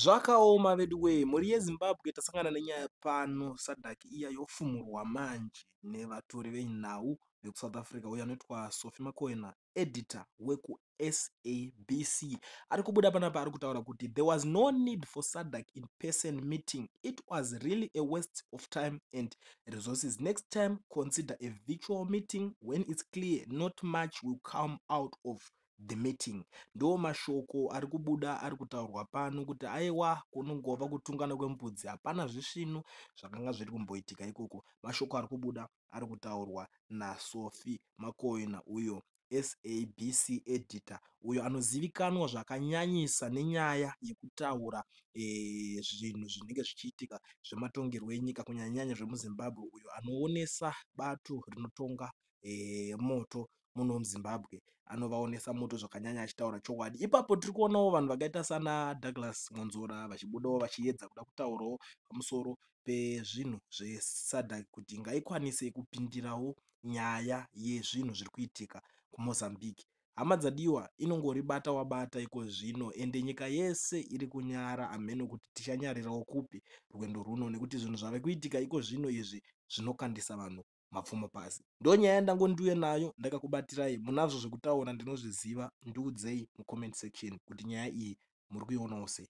Zvakaoma veduwee mhuri yeZimbabwe tasangana nenyaya pano Sadc iya yofumurwa manje nevatori venhau vekuSouth Africa uyo anoitwa Sophie Makoena editor wekuSABC ari kubuda panapa ari kutaura kuti there was no need for Sadc in person meeting it was really a waste of time and resources next time consider a virtual meeting when it's clear not much will come out of the meeting ndiwo mashoko ari kubuda ari kutaurwa pano kuti aiwa kunongova kutungana kwembudzi hapana zvisvinu zvakanga zviri kumboitika ikoko mashoko ari kubuda ari kutaurwa nasofi makoina uyo sabc editor uyo anozivikanwa zvakanyanyisa nenyaya yekutaura eh, zvinhu e, zvinenge zvichiitika zvematongerwo enyika kunyanyanyanya zvemuzimbabwe uyo anoonesa bato rinotonga e, moto muno muzimbabwe anovaonesa moto zvakanyanya achitaura chokwadi ipapo tiri kuonawo vanhu vakaita sana douglas mwanzora vachibudawo vachiedza kuda kutaurawo pamusoro pezvinhu zvesadak kuti ngaikwanise kupindirawo nyaya yezvinhu zviri kuitika kumozambique hama dzadiwa inongori bata wabata iko zvino ende nyika yese iri kunyara amheno kuti tichanyarirawo kupi rwendo rwuno nekuti zvinhu zvave kuitika iko zvino izvi zvinokandisa vanhu mapfumo pasi ndo nyaya yandango ndiuye nayo ndakakubatirai munazvo zvekutaura ndinozviziva ndiudzei mucomment section kuti nyaya iyi muri kuionawo sei